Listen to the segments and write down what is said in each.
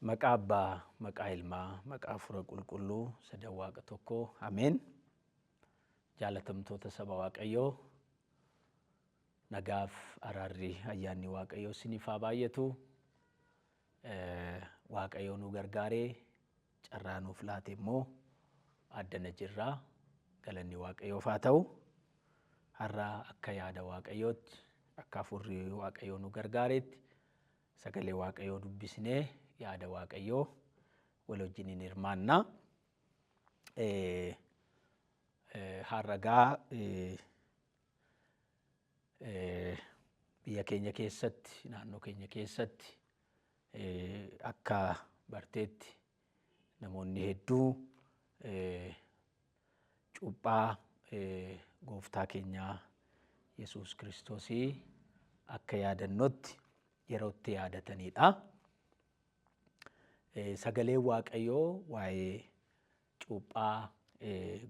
Maqaa Abbaa, maqaa Ilmaa, maqaa Hafuura Qulqulluu sadan Waaqa tokkoo. Ameen. Jaalatamtoota saba Waaqayyoo nagaaf araarri ayyaanni Waaqayyoo isiniif haa baay'atu. Eh, Waaqayyoo nu gargaaree carraa nuuf laate immoo addana jirra. Galanni Waaqayyoof haa ta'u. Har'a akka yaada Waaqayyootti, akka hafuurri Waaqayyoo nu gargaareetti Sagalee Waaqayyoo dubbisnee yaada Waaqayyoo wal wajjin hin hirmaanna. Har'a gaa biyya keenya keessatti naannoo keenya keessatti akka barteetti Namoonni hedduu cuuphaa gooftaa keenyaa Yesuus Kiristoosii akka yaadannootti yeroo itti yaadatanidha. Sagaleen Waaqayyoo waa'ee cuuphaa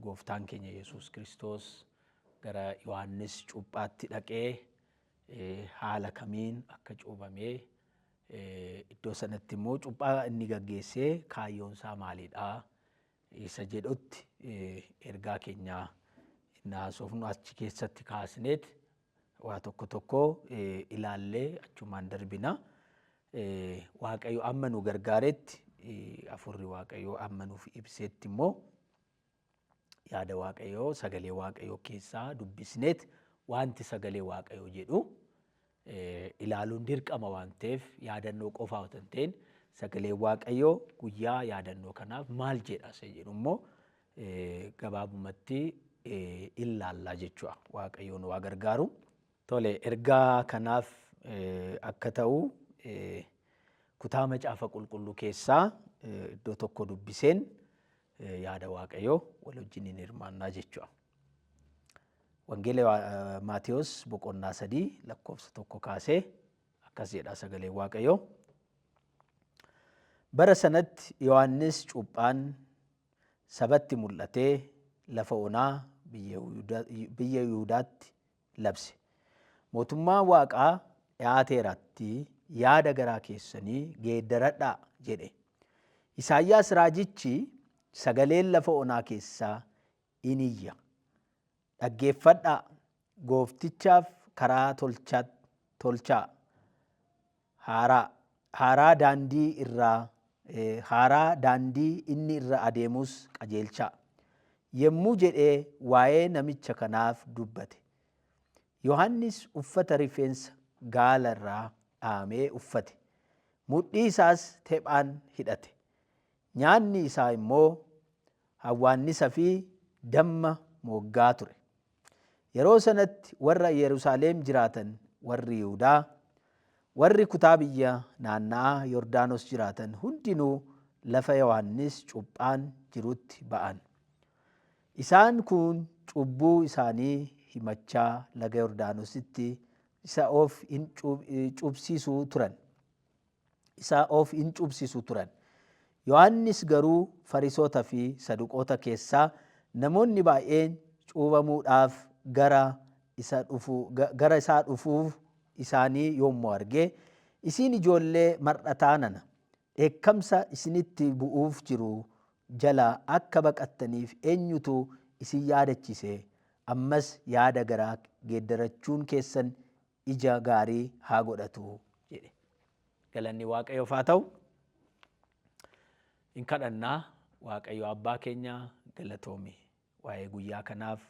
gooftaan keenya Yesuus Kiristoos gara Yohaannis cuuphaatti dhaqee haala kamiin akka cuubamee Iddoo sanatti immoo cuuphaa inni gaggeessee kaayyoon isaa maalidha? Isa jedhutti ergaa keenya inni haasofnu achi keessatti kaasneet waa tokko tokko ilaallee achumaan darbina. Waaqayyo amma nu gargaaretti, hafuurri Waaqayyoo amma nuuf ibseetti immoo yaada waaqayyoo sagalee waaqayyoo keessaa dubbisneet wanti sagalee waaqayyoo jedhu ilaaluun dirqama waan ta'eef yaadannoo qofaa otoo hin ta'in sagalee waaqayyoo guyyaa yaadannoo kanaaf maal jedha isa jedhu immoo gabaabumatti ilaallaa jechuudha waaqayyoon waa gargaaru. Tole ergaa kanaaf akka ta'u kutaa macaafa qulqulluu keessaa iddoo tokko dubbiseen eh, yaada waaqayyoo wal wajjiniin hirmaannaa jechuudha. Wangeela eh, Maatiyos boqonnaa sadii lakkoofsa tokko kaasee akkas jedha sagalee waaqayyoo. Bara sanatti Yohaannis cuuphaan sabatti mul'atee lafa onaa biyya Yihudaatti labse. Mootummaan Waaqaa dhiyaateeratti yaada garaa keessanii geeddaradhaa jedhe. Isaayyaas raajichi sagaleen lafa onaa keessaa in iyya. Dhaggeeffadhaa, gooftichaaf karaa tolchaa, haaraa, haaraa daandii irraa, haaraa daandii inni irra adeemus qajeelchaa. Yommuu jedhee waa'ee namicha kanaaf dubbate. Yohannis uffata rifeensa gaala irraa dhahamee uffate, mudhii isaas tephaan hidhate, nyaanni isaa immoo hawwaannisa fi damma mooggaa ture. Yeroo sanatti warra Yerusaalem jiraatan, warri Yihudaa, warri kutaa biyya naanna'aa Yordaanos jiraatan hundinuu lafa Yohannis cuuphaan jirutti ba'an. Isaan kun cubbuu isaanii himachaa laga Yordaanositti isa of in cuupsiisuu turan. isaa of in cuubsisu turan. Yohaannis garuu Farisoota fi Saduqoota keessaa namoonni baay'een cuubamuudhaaf gara isa dhufu, ga- gara isaa dhufuu isaanii yommuu arge, isiin ijoollee mar'ataa nana, dheekkamsa isinitti bu'uuf jiru jalaa akka baqattaniif eenyutu isin yaadachise? Ammas yaada garaa geeddarachuun keessan ija gaarii haa godhatu jedhe. Galanni Waaqayyoof haa ta'u. Hin kadhannaa Waaqayyo abbaa keenya galatoomi. Waa'ee guyyaa kanaaf,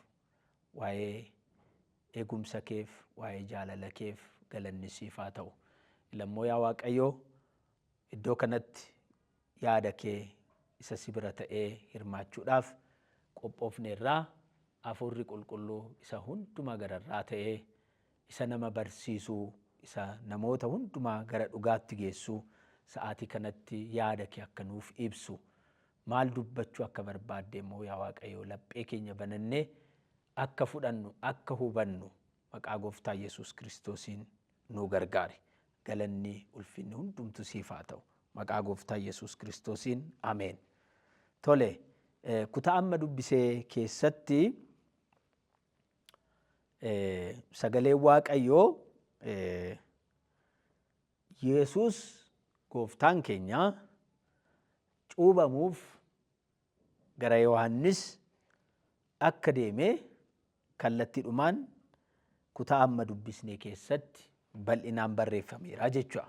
waa'ee eegumsa keef, waa'ee jaalala keef galanni siif haa ta'u. Ilammoo yaa Waaqayyo iddoo kanatti Yaada kee isa si bira ta'ee hirmaachuudhaaf qophoofneerra, Hafuurri Qulqulluu isa hundumaa gararraa ta'e, isa nama barsiisu, isa namoota hundumaa gara dhugaatti geessu, sa'aatii kanatti yaada kee akka nuuf ibsu, maal dubbachuu akka barbaadde immoo yaa Waaqayyo laphee keenya banannee akka fudhannu, akka hubannu Maqaa gooftaa yesuus kiristoosiin nuu gargaari galanni ulfinni hundumtu siif haa ta'u maqaa gooftaa yesuus kiristoosiin ameen tole kutaa amma dubbisee keessatti sagalee waaqayyoo yesuus gooftaan keenya cuubamuuf Gara Yohaannis akka deeme kallattiidhumaan kutaa amma dubbisne keessatti bal'inaan barreeffameera jechuudha.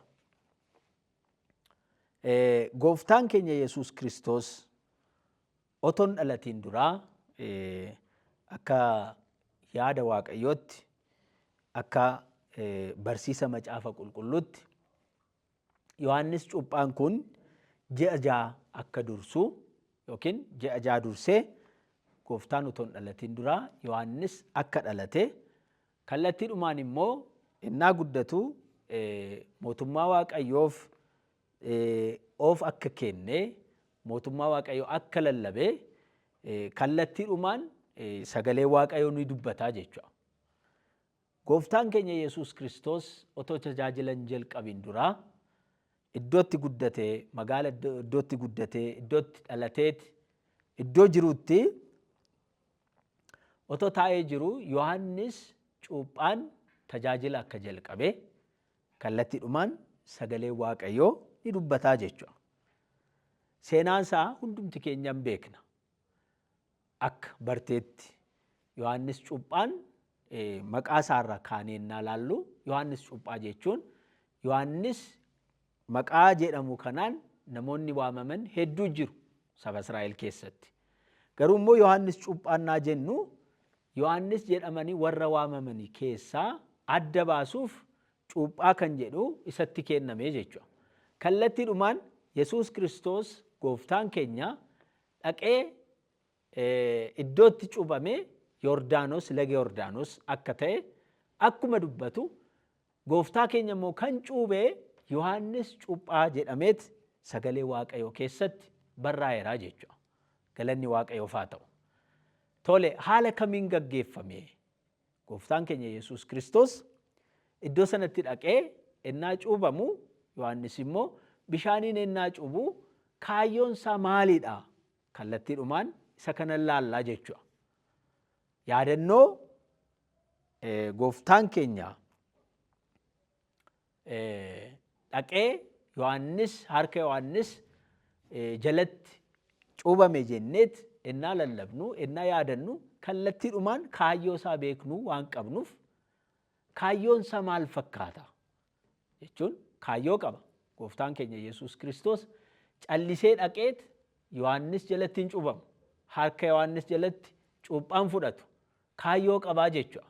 Gooftaan keenya Yesuus Kiristoos otoon dhalatiin duraa akka yaada Waaqayyootti akka barsiisa macaafa qulqulluutti Yohaannis cuuphaan kun ji'a ja'a akka dursu yookiin ji'a ja'a dursee gooftaan utuu hin dhalatiin dura Yohaannis akka dhalate kallattiidhumaan immoo innaa guddatu mootummaa waaqayyoof of akka kenne mootummaa waaqayyoo akka lallabe kallattiidhumaan sagalee waaqayyoo ni dubbataa jechuudha. Gooftaan keenya Yesuus Kiristoos otoo tajaajila hin jalqabiin dura iddoo itti guddate, magaala iddoo iddoo itti guddate, iddoo itti dhalateeti, iddoo jirutti otoo taa'ee jiru Yohaannis cuuphaan tajaajila akka jalqabe kallattiidhumaan sagalee Waaqayyoo ni dubbataa jechuudha. Seenaan isaa hundumti keenyaan beekna. akka barteetti Yohaannis Cuuphaan maqaa isaarra kaanee innaa laallu Yohaannis Cuuphaa jechuun Yohaannis maqaa jedhamu kanaan namoonni waamaman hedduu jiru saba Israa'el keessatti. Garuu immoo Yohaannis Cuuphaannaa jennu Yohaannis jedhamanii warra waamamanii keessaa adda baasuuf cuuphaa kan jedhu isatti kenname jechuudha. Kallattiidhumaan Yesuus Kiristoos gooftaan keenya dhaqee iddoo itti cuuphame Yordaanos, laga Yordaanos akka ta'e akkuma dubbatu gooftaa keenya immoo kan cuubee Yohaannis cuuphaa jedhameet sagalee waaqayyoo keessatti barraa'eeraa jechuudha. Galanni waaqayyoof haa ta'u. Tole haala kamiin gaggeeffame Gooftaan keenya Yesuus Kiristoos iddoo sanatti dhaqee ennaa cuubamu Yohaannis immoo bishaaniin ennaa cuubu kaayyoon isaa maaliidha? Kallattiidhumaan isa kanan laallaa jechuudha. Yaadannoo gooftaan keenya dhaqee Yohaannis harka Yohaannis jalatti cuubame jenneet ennaa lallabnu ennaa yaadannu kallattiidhumaan kaayyoo isaa beeknuu waan qabnuuf kaayyoon isaa maal fakkaata jechuun kaayyoo qaba gooftaan keenya Yesuus Kiristoos callisee dhaqeet Yohaannis jalatti hin cuubamu harka Yohaannis jalatti cuuphaan fudhatu kaayyoo qabaa jechuudha.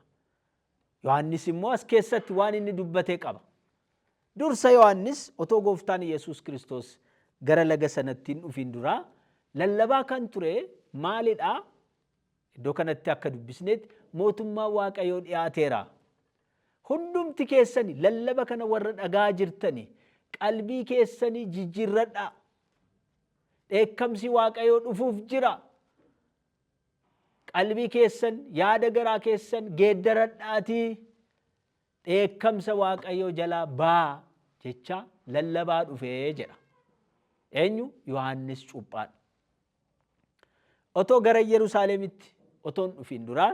Yohaannis immoo as keessatti waan inni dubbate qaba. Dursa Yohaannis otoo gooftaan Yesuus Kiristoos gara laga sanatti hin dhufiin duraa lallabaa kan ture maalidha? Iddoo kanatti akka dubbisnetti mootummaa waaqayyoo dhiyaateera. Hundumti keessani lallaba kana warra dhagaa jirtani qalbii keessanii jijjiirradhaa. Dheekkamsi waaqayyoo dhufuuf jira. Qalbii keessan, yaada garaa keessan geeddaradhaatii dheekkamsa Waaqayyoo jalaa ba'aa jechaa lallabaa dhufe jedha. Eenyu? Yohaannis Cuuphaan. Otoo gara Yerusaalemitti otoo hin dhufiin duraa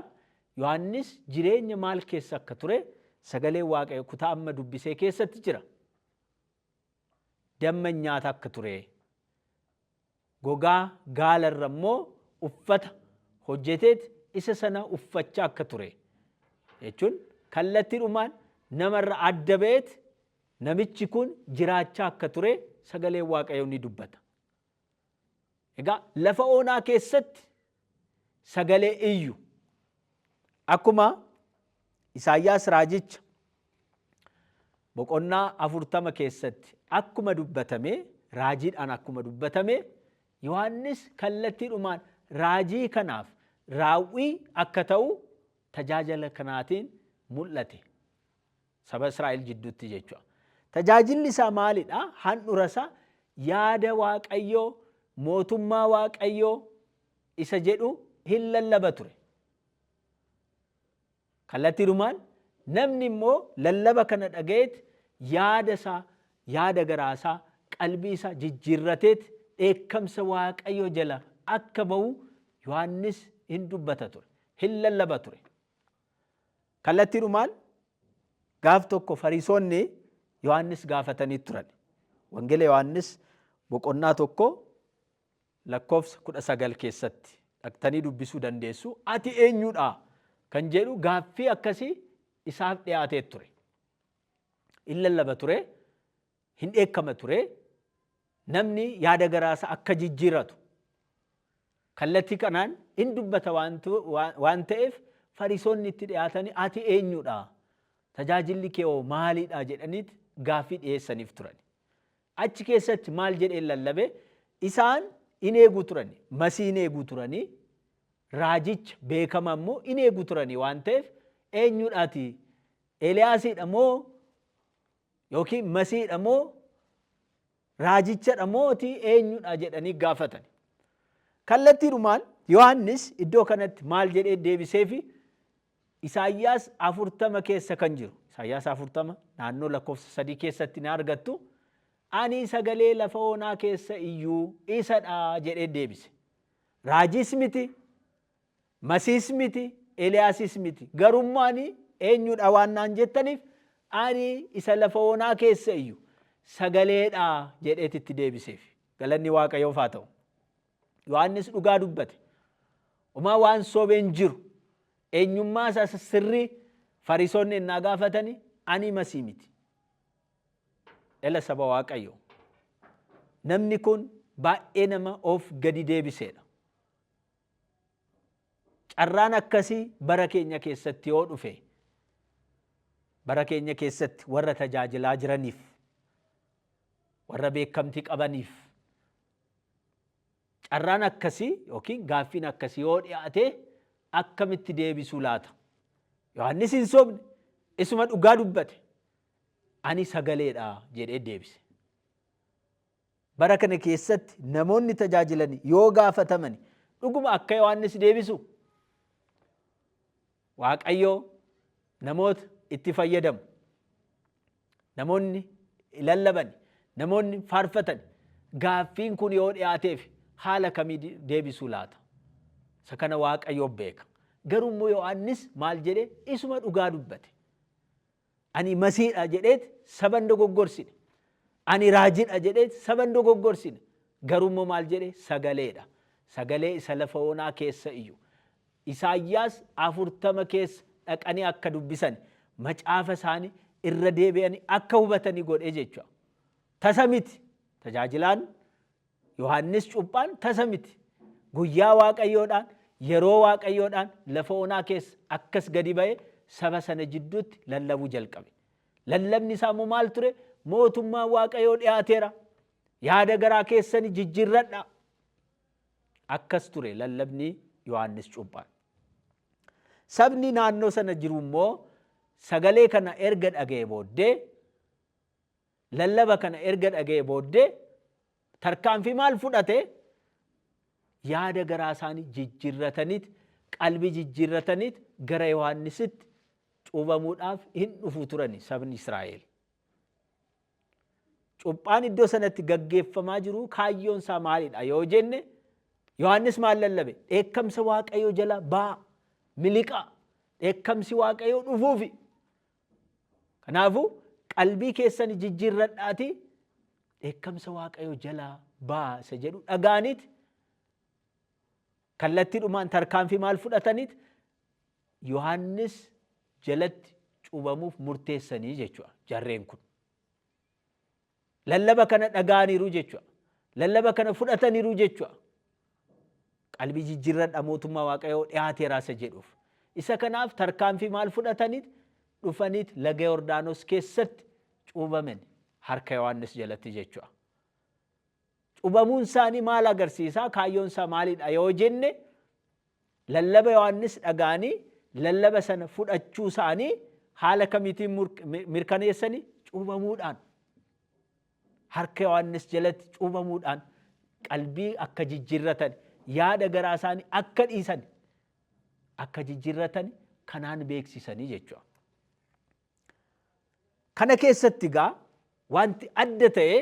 Yohaannis jireenya maal keessa akka ture sagalee Waaqayyo kutaa amma dubbisee keessatti jira. damma nyaata akka ture, gogaa gaala irra immoo uffata hojjeteet isa sana uffachaa akka ture jechuun kallattiidhumaan namarra adda ba'eet namichi kun jiraachaa akka ture sagaleen waaqayyoo ni dubbata. Egaa lafa onaa keessatti sagalee iyyu. Akkuma Isaayyaas raajicha boqonnaa afurtama keessatti akkuma dubbatame raajiidhaan akkuma dubbatame Yohaannis kallattiidhumaan raajii kanaaf raawwii akka ta'u tajaajila kanaatiin mul'ate. Saba Israa'el jidduutti jechuudha. Tajaajilli isaa maalidha? Handhura isaa yaada Waaqayyoo, mootummaa Waaqayyoo isa jedhu hin lallaba ture. Kallattiidhumaan namni immoo lallaba kana dhaga'eet yaada isaa, yaada garaa isaa, qalbii isaa jijjiirrateet dheekkamsa Waaqayyoo jala akka ba'u Yohaannis hin dubbata ture, hin lallaba ture. Kallattiidhumaan gaaf tokko Fariisonni Yohaannis gaafatanii turan. Wangeela Yohaannis boqonnaa tokko lakkoofsa kudha sagal keessatti dhaqtanii dubbisuu dandeessu. Ati eenyudha kan jedhu gaaffii akkasii isaaf dhiyaatee ture. In lallaba ture, hin dheekkama ture namni yaada garaasa akka jijjiiratu kallattii kanaan in dubbata waan ta'eef farisoonni itti dhiyaatanii ati eenyudha tajaajilli kee hoo maalidha jedhaniit gaaffii dhiyeessaniif turan. Achi keessatti maal jedheen lallabe isaan in eegu turan masii in eegu turanii raajicha beekama immoo in eegu turanii waan ta'eef eenyudhaati Eeliyaasiidha moo Yookiin masiidha moo raajichadha mooti eenyudha jedhanii gaafatani. Kallattiidhumaan Yohaannis iddoo kanatti maal jedhee deebiseefi Isaayyaas afurtama keessa kan jiru. Isaayyaas afurtama naannoo lakkoofsa sadii keessatti na argattu. Ani sagalee lafa onaa keessa iyyuu isadha jedhee deebise. Raajiis miti Masiis miti, Eliyaasis miti, garuu immoo ani eenyu dha waan naan jettaniif, ani isa lafa onaa keessa iyyu sagalee dha jedheeti itti deebiseef. Galanni Waaqayyoof haa ta'u. Yohaannis dhugaa dubbate. Homaa waan sobe hin jiru. Eenyummaa isaa isa sirrii Fariisonni ennaa gaafatani, ani Masii miti. Ela saba Waaqayyoo. Namni kun baay'ee nama of gadi deebiseedha. Carraan akkasii bara keenya keessatti yoo dhufe, bara keenya keessatti warra tajaajilaa jiraniif, warra beekamtii qabaniif, carraan akkasii yookiin gaaffiin akkasii yoo dhiyaate akkamitti deebisuu laata? Yohaannis hin sobne, isuma dhugaa dubbate. Ani sagaleedha jedhee deebise. Bara kana keessatti namoonni tajaajilan yoo gaafataman dhuguma akka Yohaannis deebisu Waaqayyoo namoota itti fayyadamu. Namoonni lallaban, namoonni faarfatan gaaffiin kun yoo dhiyaateef haala kamii deebisuu laata? Isa kana Waaqayyoo beeka. Garuu immoo Yohaannis maal jedhee isuma dhugaa dubbate. Ani Masiidha jedheet saba hin dogoggorsine. Ani Raajidha jedheet saba hin dogoggorsine. Garuu immoo maal jedhe? Sagalee dha. Sagalee isa lafa onaa keessa iyyu. Isaayyaas 40 keessa dhaqanii akka dubbisani, macaafa isaani irra deebi'ani akka hubatani godhe jechuudha. Tasa miti. Tajaajilaan Yohaannis cuuphaan tasa miti. Guyyaa Waaqayyoodhaan, yeroo Waaqayyoodhaan lafa onaa keessa akkas gadi ba'ee saba sana jidduutti lallabuu jalqabe. Lallabni isaa immoo maal ture? Mootummaan Waaqayyoo dhiyaateera. Yaada garaa keessani jijjiirradha. Akkas ture lallabni Yohaannis cuuphaan. Sabni naannoo sana jiru immoo sagalee kana erga dhaga'e booddee Lallaba kana erga dhaga'ee booddee tarkaanfii maal fudhate? Yaada garaa isaanii jijjirrataniit, qalbii jijjirrataniit gara Yohaannisitti cuubamuudhaaf hin dhufu turani sabni Israa'el. Cuphaan iddoo sanatti gaggeeffamaa jiru kaayyoon isaa maalidha yoo jenne Yohaannis maal lallabe? Dheekkamsa Waaqayyoo jala baa, miliqaa, dheekkamsi Waaqayyoo dhufuufi Kanaafu qalbii keessani jijjirradhaati dheekkamsa Waaqayyo jalaa ba'aa isa jedhu dhaga'aniit kallattidhumaan tarkaanfii maal fudhataniit Yohaannis jalatti cuubamuuf murteessanii jechuudha jarreen kun. Lallaba kana dhaga'aniru jechua. Lallaba kana fudhataniru jechua. Qalbii jijjirradha mootummaa waaqayoo dhiyaateera isa jedhuuf. Isa kanaaf tarkaanfii maal fudhatanit dhufanit laga Yordaanos keessatti cuubamen harka Yohaannis jalatti jechua. Cubamuun isaanii maal agarsiisaa kaayyoon isaa maalidha yoo jenne Lallaba Yohaannis dhaga'anii lallaba sana fudhachuusaanii haala kamiitiin mirkaneessani? Cuubamuudhaan. Harka Yohaannis jalatti cuubamuudhaan qalbii akka jijjiirratan, yaada garaa isaanii akka dhiisan, akka jijjiirratan kanaan beeksisanii jechuudha. Kana keessatti egaa wanti adda ta'e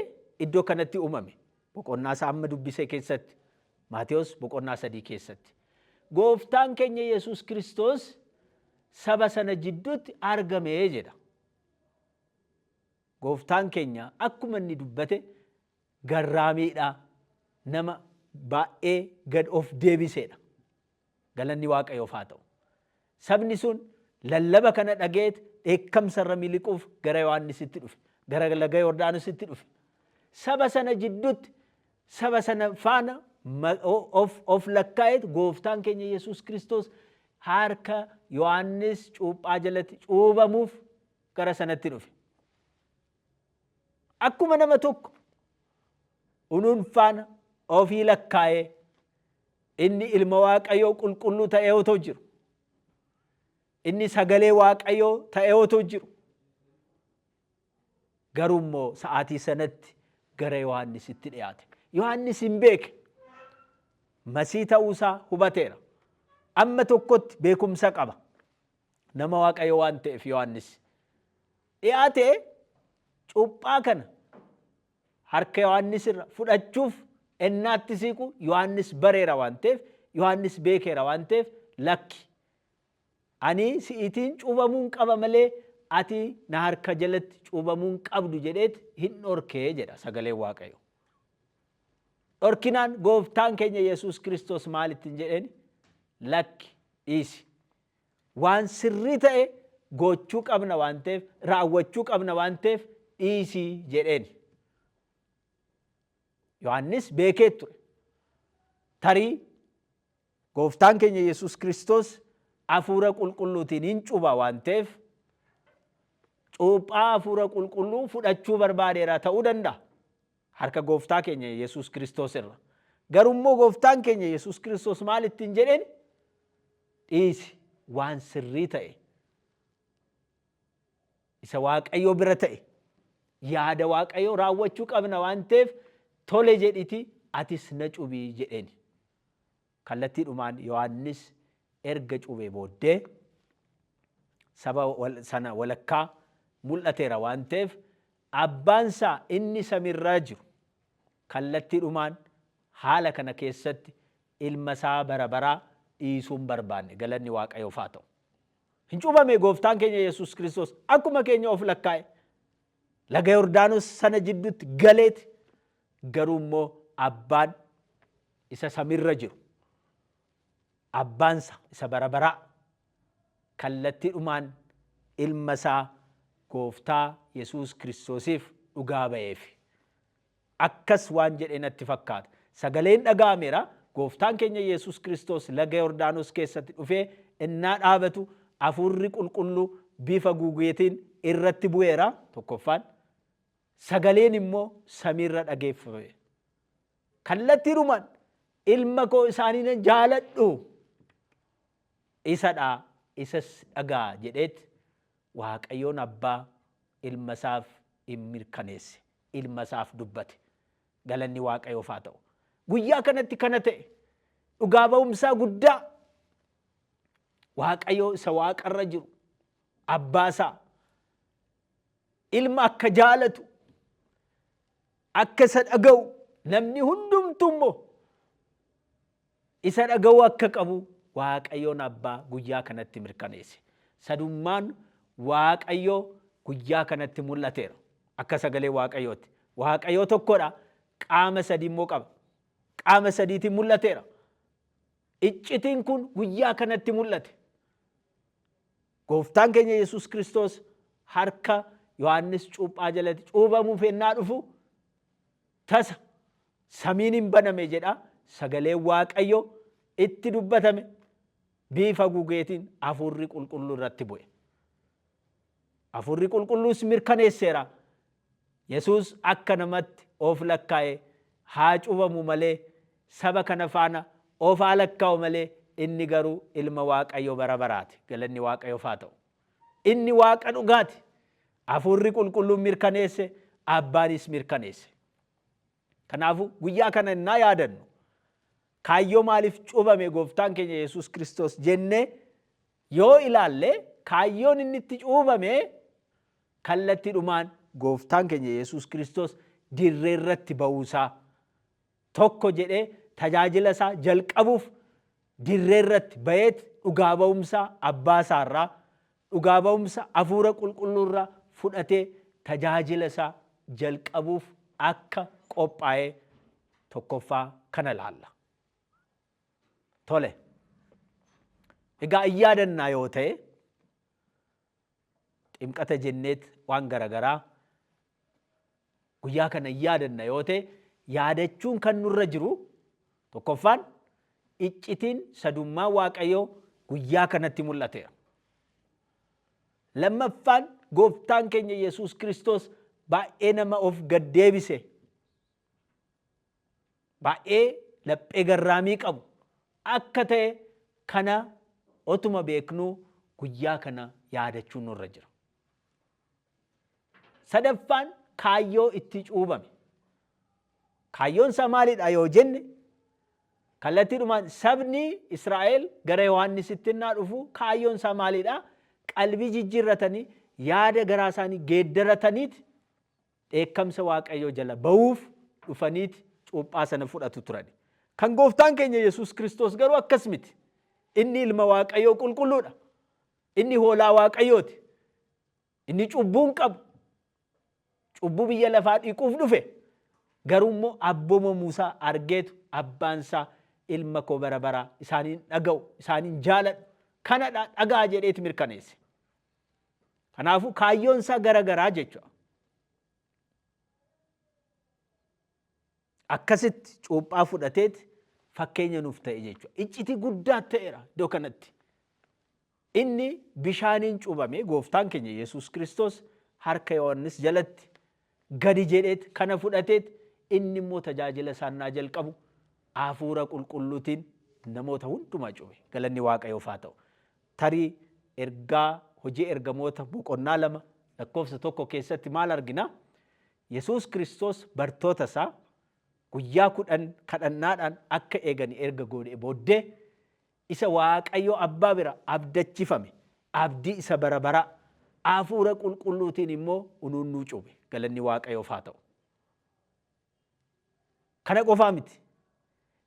iddoo kanatti uumame. Boqonnaa isaa amma dubbise keessatti. Maatewos boqonnaa sadii keessatti. Gooftaan keenya Yesuus Kiristoos saba sana jidduutti argame jedha. Gooftaan keenya akkuma inni dubbate garraamiidha. Nama baay'ee gad of deebiseedha. Galanni Waaqayyoof haa ta'u! Sabni sun lallaba kana dhaga'eet dheekkamsa irra miliquuf gara Yohaannisitti dhufe, gara laga Yordaanositti dhufe. Saba sana jidduutti, saba sana faana ma- o- of, of lakkaa'eet gooftaan keenya Yesuus Kiristoos harka Yohaannis cuuphaa jalatti cuubamuuf gara sanatti dhufe. Akkuma nama tokko ununfaan ofii lakkaa'ee inni ilma Waaqayyoo qulqulluu ta'ee otoo jiru, inni sagalee Waaqayyoo ta'ee otoo jiru, garuu immoo sa'aatii sanatti gara Yohaannisitti dhiyaate. Yohaannis hin beeke. Masii ta'uusaa hubateera. Amma tokkotti beekumsa qaba. Nama Waaqayyo waan ta'eef Yohaannis. dhi'aate cuuphaa kana harka Yohaannis irra fudhachuuf ennaatti siiqu Yohaannis bareera waan ta'eef Yohaannis beekeera waan ta'eef lakki ani si'iitiin cuubamuun qaba malee ati na harka jalatti cuubamuun qabdu jedheet hin dhorkee jedha sagaleen waaqayyo. Dhorkinaan gooftaan keenya Yesuus Kiristoos maalittiin jedheen lakki dhiisi. Waan sirrii ta'e goochuu qabna waan ta'eef, raawwachuu qabna waan ta'eef dhiisi jedheeni. Yohaannis beekee ture. Tarii gooftaan keenya Yesuus Kiristoos hafuura qulqulluutiin hin cuba waan ta'eef cuuphaa hafuura qulqulluu fudhachuu barbaadeera ta'uu danda'a. Harka Gooftaa keenya Yesuus Kiristoos irra. Garuu immoo Gooftaan keenya Yesuus Kiristoos maal ittiin jedheen? Dhiisi waan sirrii ta'e isa Waaqayyo bira ta'e yaada Waaqayyo raawwachuu qabna waan ta'eef tole jedhiti atis na cubii jedheen. Kallattiidhumaan Yohaannis erga cuuphee booddee saba sana walakkaa mul'ateera waan ta'eef, Abbaansaa inni samiirraa jiru kallattiidhumaan haala kana keessatti Ilmasaa bara baraa dhiisuu hin barbaanne. Galanni Waaqayyoof haa ta'u! Hin cuuphamee Gooftaan keenya Yesuus Kiristoos akkuma keenya of lakkaa'e laga Yordaanos sana jidduutti galeeti garuu immoo abbaan isa samirra jiru, Abbaansa isa bara baraa, kallattiidhumaan Ilma isaa Gooftaa Yesuus Kiristoosiif dhugaa ba'eef. Akkas waan jedhe natti fakkaata, Sagaleen dhaga'ameera, Gooftaan keenya Yesuus Kiristoos laga Yordaanos keessatti dhufee ennaa dhaabatu Hafuurri Qulqulluu bifa gugeetiin irratti bu'eera, tokkoffaan, sagaleen immoo samiirra dhageeffame. Kallattiidhumaan ilma koo isa ani nan jaaladhu isadha isas dhaga'a jedheet Waaqayyoon abbaa ilma isaaf in mirkaneesse ilma isaaf dubbate galanni Waaqayyoof haa ta'u guyyaa kanatti kana ta'e dhugaa ba'umsaa guddaa Waaqayyoo isa waaqarra jiru abbaa isaa Ilma akka jaalatu, akka isa dhaga'u, namni hundumtuu immoo isa dhaga'uu akka qabu Waaqayyoon Abbaa guyyaa kanatti mirkaneesse. Sadummaan Waaqayyoo guyyaa kanatti mul'ateera. Akka sagalee Waaqayyootti. Waaqayyoo tokkodha. Qaama sadii immoo qaba. Qaama sadiitiin mul'ateera. Iccitiin kun guyyaa kanatti mul'ate. Gooftaan keenya Yesuus Kiristoos harka Yohaannis cuuphaa jalatti cuubamuuf ennaa dhufu tasa samiin hin baname jedha sagaleen Waaqayyo itti dubbatame biifa gugeetiin hafuurri qulqulluu irratti bu'e. Hafuurri qulqulluus mirkaneesseera Yesuus akka namatti of lakkaa'e haa cuubamu malee, saba kana faana of haa lakkaa'u malee, inni garuu ilma Waaqayyo bara baraati. Galanni Waaqayyoof haa ta'u. Inni Waaqa dhugaati. Hafuurri qulqulluun mirkaneesse, Abbaanis mirkaneesse. Kanaafu guyyaa kana innaa yaadannu kaayyoo maaliif cuubame gooftaan keenya Yesuus Kiristoos jennee yoo ilaalle kaayyoon inni itti cuubame kallattiidhumaan gooftaan keenya Yesuus Kiristoos dirree irratti ba'uusaa tokko jedhee tajaajila isaa jalqabuuf dirree irratti ba'eet dhugaa ba'umsaa abbaa isaarraa dhugaa ba'umsa hafuura qulqulluurraa fudhatee tajaajila isaa jalqabuuf akka qophaa'ee tokkoffaa kana ilaalla. Tole. Egaa in yaadannaa yoo ta'e ximqata jenneet waan garagaraa guyyaa kana in yaadanna yoo ta'e yaadachuun kan nurra jiru tokkoffaan iccitiin sadummaa Waaqayyoo guyyaa kanatti mul'ateera. Lammaffaan gooftaan keenya Yesuus Kiristoos baay'ee nama of gad deebise baay'ee laphee garraamii qabu akka ta'e kana otuma beeknuu guyyaa kana yaadachuun nurra jira. Sadaffaan kaayyoo itti cuubame. Kaayyoon isaa maalidha yoo jenne kallattiidhumaan sabni Israa'el gara Yohaannisitti innaa dhufu kaayyoon isaa maalidha? Qalbii jijjiirratanii yaada garaa isaanii geeddarataniiti dheekkamsa Waaqayyoo jala ba'uuf dhufaniiti cuuphaa sana fudhatu turani. Kan gooftaan keenya Yesuus Kiristoos garuu akkas miti. Inni ilma Waaqayyoo qulqulluudha. Inni hoolaa Waaqayyooti. Inni cubbuu hin qabu. Cubbuu biyya lafaa dhiquuf dhufe. Garuu immoo abboomamu isaa argeetu abbaan isaa ilma koo bara baraa isaaniin dhaga'u isaaniin jaaladhu kanadha dhagaa jedheeti mirkaneesse. Kanaafuu kaayyoon isaa gara garaa jechuudha. Akkasitti cuuphaa fudhateet fakkeenya nuuf ta'e jechuudha. Iccitii guddaa ta'eera iddoo kanatti. Inni bishaaniin cuubame gooftaan keenya Yesuus Kiristoos harka Yohaannis jalatti gadi jedheet kana fudhateet inni immoo tajaajila isaa innaa jalqabu Hafuura Qulqulluutiin namoota hundumaa cube. Galanni Waaqayyoof haa ta'u. Tarii ergaa hojii ergamoota boqonnaa lama lakkoofsa tokko keessatti maal argina? Yesuus Kiristoos bartoota isaa guyyaa kudhan kadhannaadhaan akka eegan erga goodhee booddee isa Waaqayyo Abbaa bira abdachifame, abdii isa bara baraa, Afuura Qulqulluutiin immoo unuun nuu cuube. Galanni Waaqayyoof haa ta'u. Kana qofaa miti.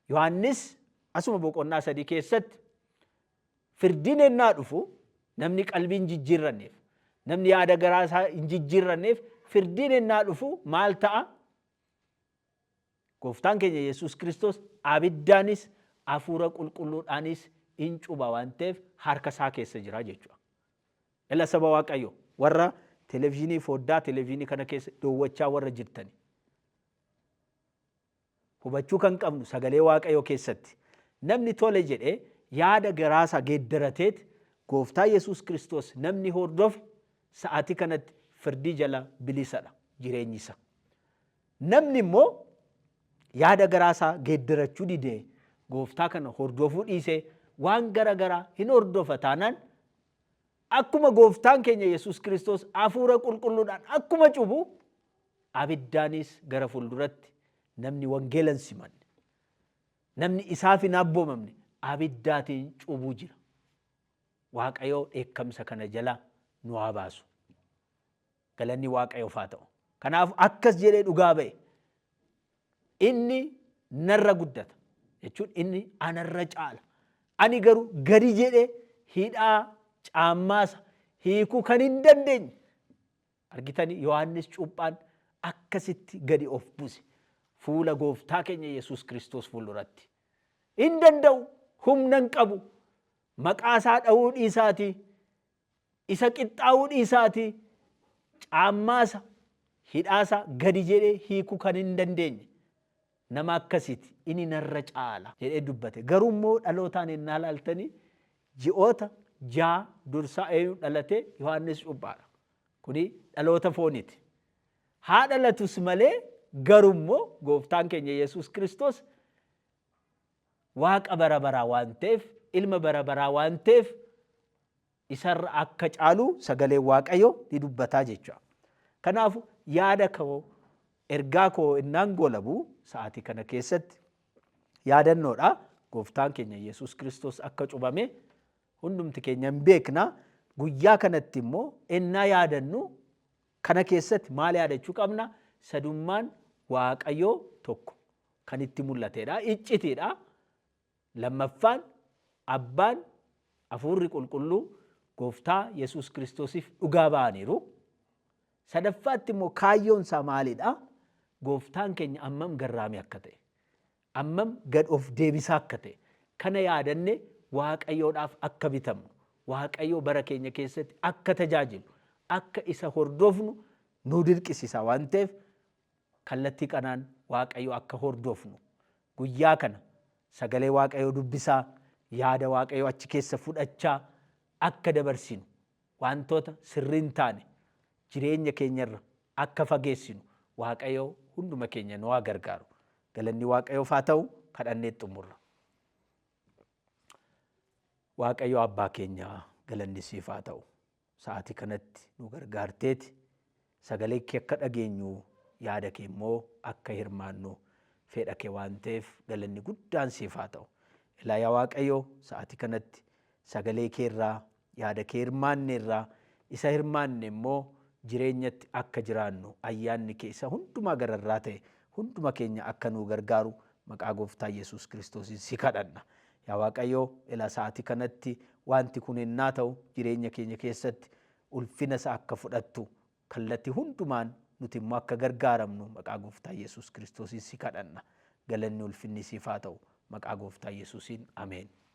Yohaannis asuma boqonnaa sadii keessatti firdiin ennaa dhufu namni qalbii hin jijjiirranneef, namni yaada garaa isaa hin jijjiirranneef firdiin ennaa dhufu maal ta'a? Gooftaan keenya Yesuus Kiristoos abiddaanis Hafuura Qulqulluudhaanis in cuba waan ta'eef harka isaa keessa jira jechuudha. Ela saba Waaqayyoo warra televizyinii foddaa televizyinii kana keessa dowwachaa warra jirtani. Hubachuu kan qabnu sagalee Waaqayyoo keessatti namni tole jedhee yaada garaasaa geeddarateet gooftaa Yesuus Kiristoos namni hordofe sa'aatii kanatti firdii jala bilisadha jireenyi isaa. Namni immoo yaada garaa isaa geeddarachuu didee gooftaa kana hordofuu dhiisee waan gara garaa hin hordofa taanaan akkuma gooftaan keenya Yesuus Kiristoos hafuura qulqulluudhaan akkuma cubu abiddaanis gara fuulduratti namni wangeela hin simanne namni isaaf hin abboomamne abiddaatiin cubuu jira. Waaqayyoo dheekkamsa kana jalaa nu haa baasu. Galanni Waaqayyoof haa ta'u. Kanaaf akkas jedhee dhugaa ba'e. Inni narra guddata. Jechuun inni anarra caala. Ani garuu gadi jedhee hidhaa caammaasa hiikuu kan hin dandeenye. Argitanii Yohaannis cuuphaan akkasitti gadi of buse. Fuula gooftaa keenya Yesuus Kiristoos fuulduratti. Hin danda'u, humna hin qabu. Maqaa isaa dha'uu dhiisaatii Isa qixxaa'uu dhiisaatii caammaasaa, hidhaasaa gadi jedhee hiikuu kan hin dandeenye nama akkasiiti, inni narra caala jedhee dubbate. Garuu immoo dhalootaan ennaa ilaaltanii ji'oota ja'a dursaa eenyu dhalate? Yohaannis Cuuphaadha. Kuni dhaloota fooniiti. Haa dhalatus malee garuu immoo gooftaan keenya Yesuus Kiristoos Waaqa bara baraa waan ta'eef, ilma bara baraa waan ta'eef isarra akka caalu sagaleen Waaqayyoo ni dubbataa jecha. Kanaafu yaada koo ergaa koo innaan goolabu sa'aatii kana keessatti yaadannoodha. Gooftaan keenya Yesuus Kiristoos akka cubame hundumti keenya hin beekna. Guyyaa kanatti immoo ennaa yaadannu Kana keessatti maal yaadachuu qabna? Sadummaan Waaqayyoo tokko kan itti mul'atedha. Iccitiidha. Lammaffaan Abbaan, Hafuurri Qulqulluu Gooftaa Yesuus Kiristoosiif dhugaa ba'aniiru. Sadaffaatti immoo kaayyoon isaa maalidha? Gooftaan keenya ammam garraamii akka ta'e. ammam gad of deebisaa akka ta'e kana yaadanne Waaqayyoodhaaf akka bitamnu, Waaqayyoo bara keenya keessatti akka tajaajilu, akka isa hordofnu nu dirqisisaa waan ta'eef kallattii kanaan Waaqayyoo akka hordofnu guyyaa kana sagalee Waaqayyoo dubbisaa, yaada Waaqayyoo achi keessa fudhachaa akka dabarsinu Wantoota sirrii hin taane jireenya keenya irra akka fageessinu waaqayyo hunduma keenya nu haa gargaaru. Galanni waaqayyoof haa ta'u kadhanneet xumurra. Waaqayyo abbaa keenya galanni siif haa ta'u. Sa'aatii kanatti nu gargaarteeti. Sagalee kee akka dhageenyu, yaada kee immoo akka hirmaannu feedha kee waan ta'eef galanni guddaan siif haa ta'u. Ilaa yaa Waaqayyo sa'aatii kanatti sagalee kee irraa, yaada kee hirmaanne irraa, isa hirmaanne immoo jireenyatti akka jiraannu ayyaanni kee isa hundumaa gararraa ta'e hunduma keenya akka nuu gargaaru maqaa gooftaa Yesuus Kiristoosiin si kadhanna. Yaa Waaqayyo ilaa sa'aatii kanatti wanti kun ennaa ta'u jireenya keenya keessatti ulfina isaa akka fudhattu kallati hundumaan nuti immoo akka gargaaramnu maqaa gooftaa Yesuus Kiristoosiin si kadhanna. Galanni ulfinni siif haa ta'u. Maqaa gooftaa Yesuusiin ameen.